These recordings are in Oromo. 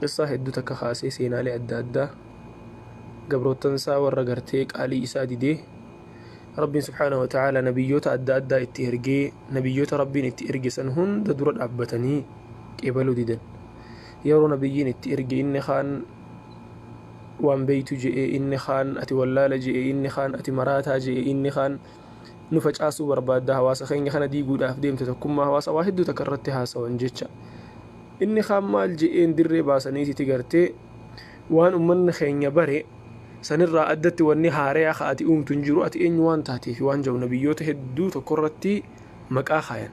Qissaa hedduu takka kaasee seenaalee adda addaa gabroottan isaa warra gartee qaalii isaa didee Rabbiin subhaanahu wa ta'aalaa nabiyyoota adda addaa itti ergee nabiyyoota Rabbiin itti erge san hunda dura dhaabbatanii qeebaluu didan. Yeroo nabiyyiin itti erge inni kaan waan beeytu je'e inni kaan ati wallaala je'e inni kaan ati maraataa je'e inni kaan nu facaasuu barbaadda hawaasa keenya kana diiguudhaaf deemta tokkummaa hawaasa waa hedduu takka irratti haasawan jecha inni kaan maal je'een dirree baasaniititi gartee waan ummanni keenya bare sanirraa addatti wanni haareyaa ka ati uumtu hin jiru ati eenyu waan taateef waan ja'u nabiyyoota hedduu tokko irratti maqaa kaayan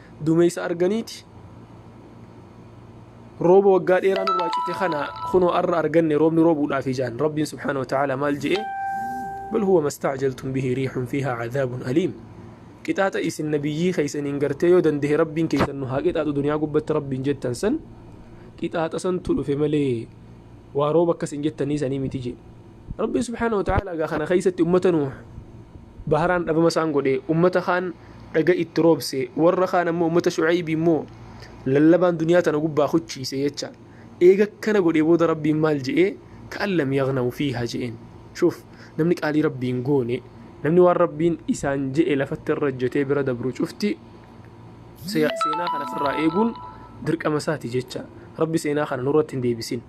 Duumeysa arganiiti rooba waggaa dheeraa nurraa cite kana kunoo arra arganne roobni roobuudhaafi jaan rabbiin subhaana wa ta'aala maal je'e bal huwa mastaajaltum bihi riixun fiihaa cadaabun aliim qixaaxa isin nabiyyii keeysaniin gartee yoo dandehe rabbiin keeysan nu haa qixaaxu duniyaa gubbatti rabbiin jettan san qixaaxa santu dhufe malee waa rooba akkas hin jettanii sanii miti jee Rabbiin subhaanahu wa ta'aalaa egaa kana keessatti ummata Nuuh baharaan dhabama isaan godhe, ummata kaan dhaga itti roobse, warra kaan ammoo ummata Shu'aybii immoo lallabaan duniyaa tana gubbaa kuchiise jecha. Eega akkana godhee booda Rabbiin maal je'ee ka'an lam yagnaw fiihaa je'een. Shuuf namni qaalii Rabbiin goone namni waan Rabbiin isaan je'e lafatti irra hojjetee bira dabru cufti seenaa kana ofirraa eeguun dirqama isaati jecha. Rabbi seenaa kana nurratti hin deebisin.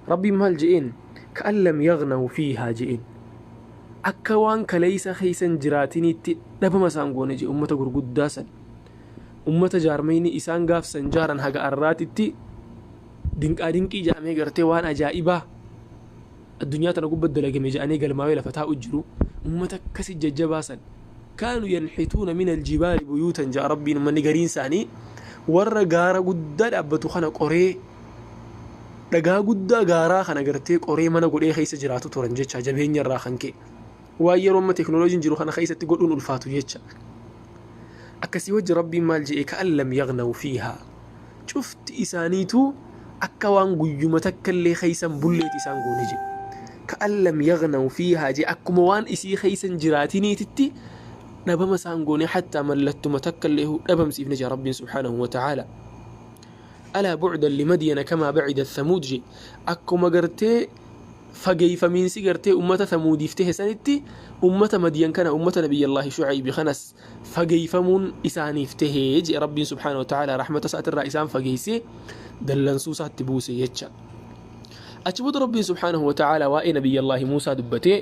Rabbiin maal je'een? ka'an lam yaghnaw fiihaa je'een. Akka waan kaleeysa keeysa hin jiraatiniitti dhabama isaan goone je'e ummata gurguddaa san. Ummata jaarmayni isaan gaaf san jaaran haga arraatitti dinqaa dinqii ja'amee gartee waan ajaa'ibaa addunyaa tana gubba dalagame ja'anii galmaawee lafa taa'u jiru. Ummata akkasi jajjabaa san. Kaanu yanxituuna min aljibaali buyuutan ja'a rabbiin ummanni gariin isaanii warra gaara guddaa dhaabbatu kana qoree Dhagaa guddaa gaaraa kana gartee qoree mana godhee keessa jiraatu turan jecha jabeenya irraa kan ka'e. Waan yeroo amma teknooloojiin jiru kana keessatti godhuun ulfaatu jecha. Akkasii wajji rabbiin maal je'e ka'an lam yagnawu fiihaa. Cufti isaaniitu akka waan guyyuma takka illee keessan bulleeti isaan goone jedhe. Ka'an lam yagnawu fiihaa jee akkuma waan isii keessan jiraatiniititti dhabama isaan goone hattaa mallattuma takka illee dhabamsiifne jaa rabbiin subhaanahu wa ta'aala. alaa bu'dan limadyana kamaa ba'idat thamuud je akkuma gartee fageeyfamiinsi gartee ummata thamuudiif tehe sanitti ummata madyan kana ummata nabiyyallaahi shu'aybi kanas fageeyfamuun isaaniif tehe je rabbiin subhaanahu wa ta'aalaa rahmata isaatirraa isaan fageeysee dallansuu isaatti buuse jecha achi booda rabbiin subhaanahu wa ta'aalaa waa'ee nabiyyallaahi muusaa dubbatee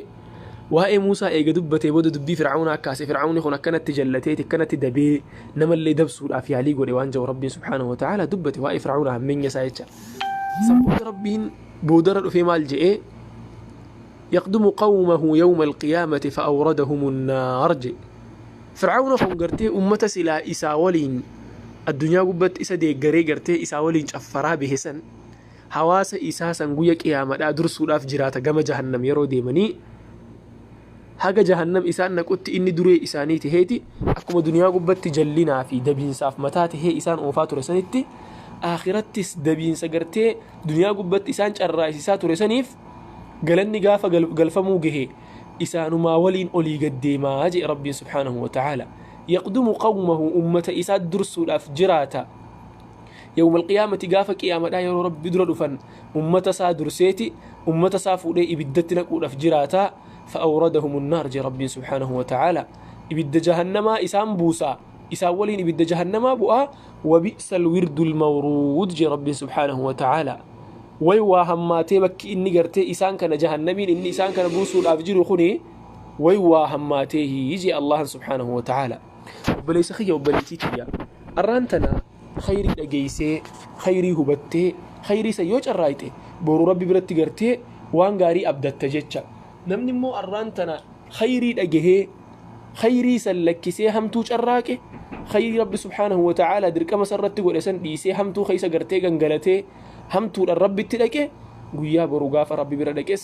Waa'ee Muusaa eega dubbatee booda dubbii Fir'awnaa kaase, Fir'awni kun akkanatti jallateeti, akkanatti dabee, namallee dabsuudhaaf yaalii godhe waan ja'u Rabbiin subhaanahu wa ta'aalaa dubbate, waa'ee Fir'awnaa hammeenya isaa jecha. San booda Rabbiin boodarra dhufee maal je'e? Yaqdumu qawmahu yawma al-qiyaamati fa'awradahumu naar je'e. Fir'awna kun gartee ummata silaa isaa waliin addunyaa gubbatti isa deeggaree gartee isaa waliin caffaraa bahe san, hawaasa isaa san guyya qiyaamadhaa dursuudhaaf jiraata gama jahannam yeroo deemanii haga jahannam isaan naqutti inni duree isaanii taheeti akkuma duniyaa gubbatti jallinaa fi dabiinsaaf mataa tahee isaan oofaa ture sanitti akhirattis dabiinsa gartee duniyaa gubbatti isaan carraayisisaa ture saniif galanni gaafa galfamuu gahe isaanumaa waliin olii gaddeemaa jee rabbiin subhaanahu wa ta'aala yaqdumu qawmahu ummata isaa dursuudhaaf jiraata Yawmal qiyaamati gaafa qiyaamadhaa yeroo rabbi dura dhufan ummata isaa durseeti ummata isaa fuudhee ibiddatti naquudhaaf jiraata fa'awradahumun naar jee rabbiin subhaanahu wa ta'aala ibidda jahannamaa isaan buusaa isaan waliin ibidda jahannamaa bu'aa wabi'sal wirdul mawruud jee rabbiin subhaanahu wa ta'aala way waa hammaatee bakki inni gartee isaan kana jahannamiin inni isaan kana buusuudhaaf jiru kuni way waa hammaatee hii jee allahan subhaanahu wa ta'aala obboleessa kiyya obboleettii kiyya arraan tana khayrii dhageeysee khayrii hubattee khayrii san yoo carraayxe boru rabbi biratti gartee waan gaarii abdatta jecha namni immoo arraan tana khayrii dhagehee khayrii san lakkisee hamtuu carraaqe khayrii rabbi subhaanahu wa ta'aalaa dirqama san irratti godhe san dhiisee hamtuu keeysa gartee gangalatee hamtuudhaan rabbitti dhaqe guyyaa boru gaafa rabbi bira dhaqes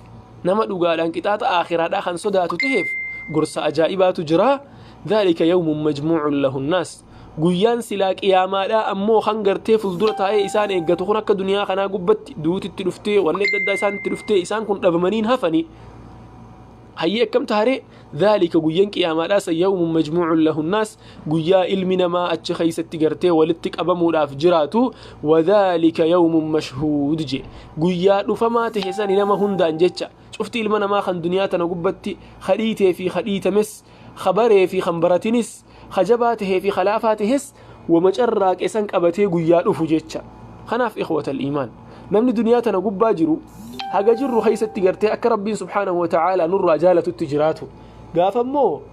Nama dhugaadhaan qixaaxa aakhiraadhaa kan sodaatu taheef gorsa ajaa'ibaatu jira. Dhaalika yawmun majmuucun lahu nnaas. Guyyaan silaa qiyaamaadhaa ammoo kan gartee fuuldura taa'ee isaan eeggatu kun akka duniyaa kanaa gubbatti duuti itti dhuftee wanni adda addaa isaan itti dhuftee isaan kun dhabamaniin hafanii. Hayyee akkam taaree dhaalika guyyan qiyaamaadhaa san yawmun majmuucun lahu nnaas guyyaa ilmi namaa achi keessatti gartee walitti qabamuudhaaf jiraatu wadhaalika yawmun mashhuud je guyyaa dhufamaa ta'e sani nama hundaan jecha cufti ilma namaa kan duniyaa tana gubbatti kadhiitee fi kadhiitames kabaree fi kan baratinis kajabaa ta'ee fi kalaafaa ta'es wama carraaqe san qabatee guyyaa dhufu jecha kanaaf ikhwatal iimaan namni duniyaa tana gubbaa jiru haga jirru keessatti gartee akka rabbiin subhaanahu wa ta'aalaa nurraa jaalatutti jiraatu gaafa immoo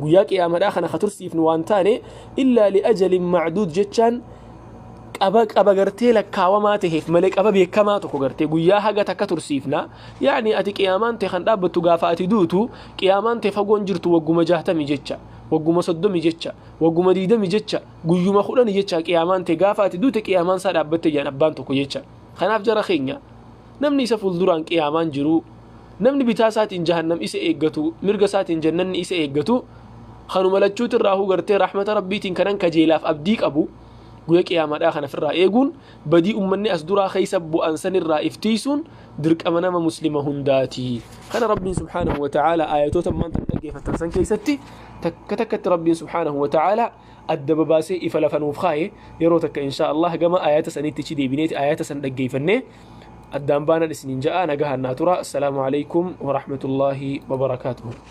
guyyaa qiyaamadhaa kana ka tursiifnu waan taane illaa liajalin macduud jechaan qaba qaba gartee lakkaawamaa taheef malee qaba beekamaa tokko gartee guyyaa haga takka tursiifna yaani ati qiyaamaan tee kan dhaabbattu gaafa ati duutu qiyaamaan tee fagoon jirtu wagguma jahtami jecha wagguma soddomi jecha wagguma diidami jecha guyyuma kudhani jecha qiyaamaan tee gaafa ati duute qiyaamaan isaa dhaabbatte jedhan abbaan tokko jecha kanaaf jara keenya Namni isa fuulduraan qiyaamaan jiru, namni bitaa isaatiin jahannam isa eeggatu, mirga isaatiin jannanni isa eeggatu, kanuma lachuuti irraahuu gartee rahmata rabbiitiin kanan kajeelaaf abdii qabu, guyya qiyaamaadhaa kana ofirraa eeguun badii ummanni as duraa keessa bu'an sanirraa iftiisuun dirqama nama muslima hundaati. Kana rabbiin subhaanahu wa ta'aala aayatoota ammaan tan dhaggeeffattan san keessatti takka takkatti rabbiin subhaanahu wa ta'aala adda babaasee ifa lafa nuuf kaaye yeroo takka inshaa Allah gama ayata sanitti ichi deebineeti ayata san dhaggeeffannee addaan baanan isiniin ja'a nagahaan naa tura assalaamu alaikum warahmatullaahi wabarakaatuhu